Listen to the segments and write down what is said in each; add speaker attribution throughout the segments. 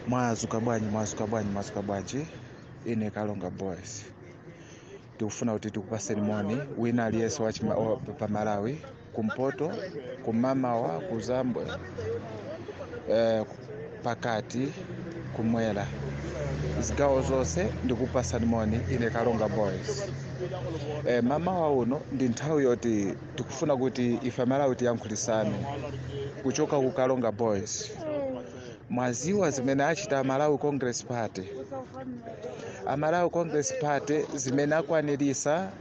Speaker 1: mwazuka bwanji mwazuka bwanji mwazuka bwanji ine kalonga boys tikufuna kuti tikupaseni moni wina aliyense wa chima- wa- pa malawi kumpoto kumamawa kuzambwe eh, pakati kumwera zigawo zonse ndikupasani moni ine kalonga boys eh, mamawa uno ndi nthawi yoti tikufuna kuti ife amalawi tiyankhulitsane kuchoka ku Karonga boys mwaziwa zimene achita amalawi congress party amalawi congress party zimene akwanirisa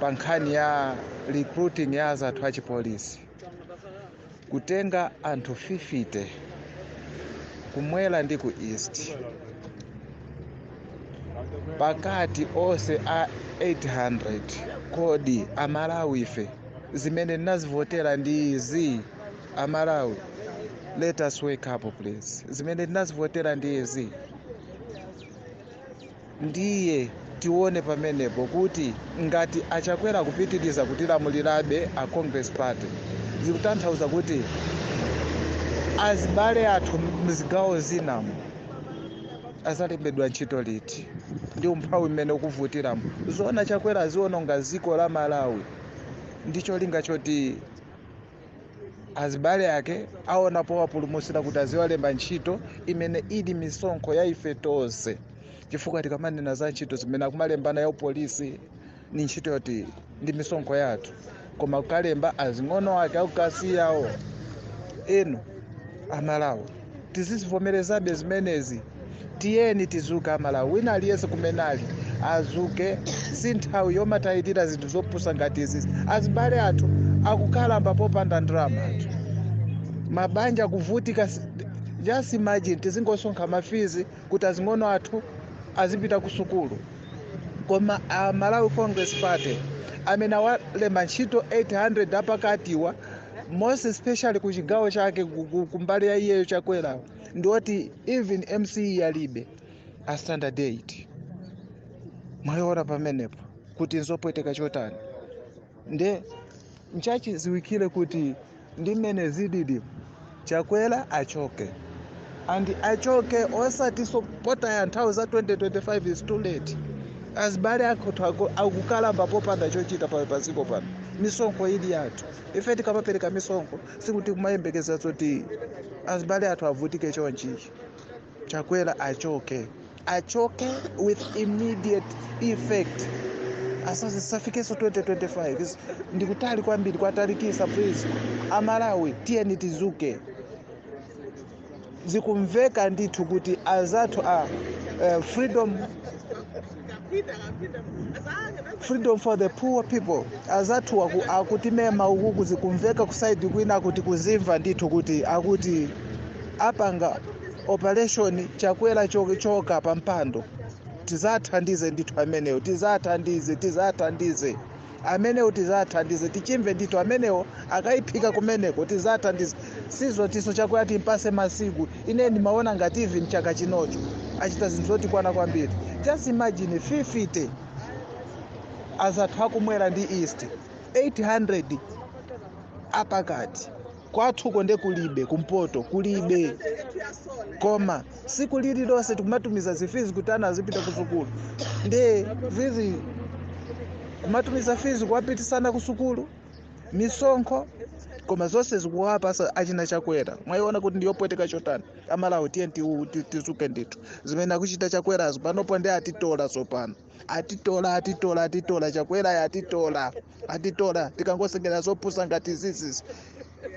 Speaker 1: pa nkhani ya recruiting ya azathu achipolisi kutenga anthu 50 kumwera ndi ku east pakati onse a 800 kodi amalawife zimene tinazivotera ndi izi amalawi let us wake up please zimene tinazivotera ndi izi ndiye tione pamenepo kuti ngati achakwera kupitiriza kutilamulirabe a congress party zikutanthauza kuti azibale athu mzigawo zinamu azalembedwa ntchito liti ndi umphawi mmene ukuvutiramo zoona chakwera aziononga dziko la malawi ndi cholinga choti azibale ake aone powapulumusira kuti aziwalemba ntchito imene ili misonkho ya ife tonse chifukwa tikamanena za ntchito zimene akumalembana ya upolisi ndi ntchito yoti ndi misonkho yathu koma kukalemba azing'ono ake aku Kasiyawo inu amalawi tizizivomerezabe zimenezi tiyeni tizuke amalawi wina aliyense kumene ali azuke si nthawi yomatichitira zinthu zopusa ngati izizi azibale athu akukalamba popanda ndalama m'mathu mabanja akuvutika s- just imagine tizingosonkha mafizi kuti azing'ono athu azipita ku sukulu koma a malawi congress party amene awalemba ntchito 800 apakatiwa most especially ku chigawo chake ku- ku- kumbali ya iwowo chakwerawo ndioti even MSCE alibe a standard 8 mwayiona pamenepo kuti nzopweteka chotani nde nchachidziwikire kuti ndi mmene zililimu chakwera achoke and achoke osati zopotaya nthawi za 2025 is too late azibale athu ako- akukalamba popanda chochita pa paziko pano misonkho ili yathu ife tikamapereka misonkho sikuti kumayembekeza zoti azibale athu avutike chonchichi Chakwera achoke, achoke with immediate effect. Asafikenso 2025 Is- ndikutali kwambiri kwatalikisa please. Amalawi tiyeni tizuke, zikumveka ndithu kuti azathu a eh, freedom freedom for the poor people azathu aku, akutimema uku kuzikumveka kusaidi kwina akuti kuzimva ndithu kuti akuti apanga operation chakwera cho- choka pa mpando tizathandize ndithu amenewo tizathandize tizathandize amenewo tizathandize tichimve ndithu amenewo akayiphika kumeneko tizathandize sizotiso chakwera timpase masiku ine ndimaona ngati even chaka chinocho achita zinthu zotikwana kwambiri just imagine 50 azathu akumwera ndi East 800 apakati kwathuko nde kulibe kumpoto kulibe koma siku lili lonse tikumatumiza zifizi kuti ana azipita kusukulu nde busy kumatumiza fizi kuwapitisa ana kusukulu misonkho koma zonse zikuwapasa achina chakwera mwayiona kuti ndiyopweteka chotani amalawi tiyeni tizuke ndithu zimene akuchita chakwerazo panopo ndi atitola tsopano atitola atitola atitola chakwerayo atitola atitola tikangosekelera zopusa ngati zizizi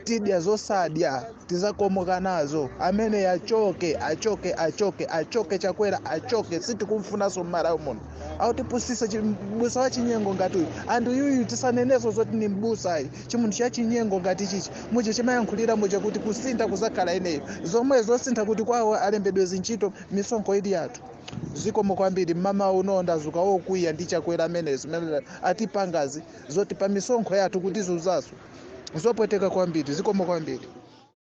Speaker 1: tidya zosadya tizakomoka nazo amene achoke achoke achoke achoke chakwera achoke sitikumfunanso m'Malawi muno akutipusisa mbusa wa chinyengo ngati uyu and uyuyu tisaneneso zoti ni mbusayi chimunthu cha chinyengo ngati chichi muja chimayankhulira muja kuti kusintha kuzakhala ineyo zomwe zosintha kuti kwawo alembedwe zintchito misonkho ili yathu zikomo kwambiri mmamawa uno ndazuka wokwiya ndi chakwera amene zimene atipangazi zoti pa misonkho yathu kutizuzaso zopweteka kwambiri zikomo kwambiri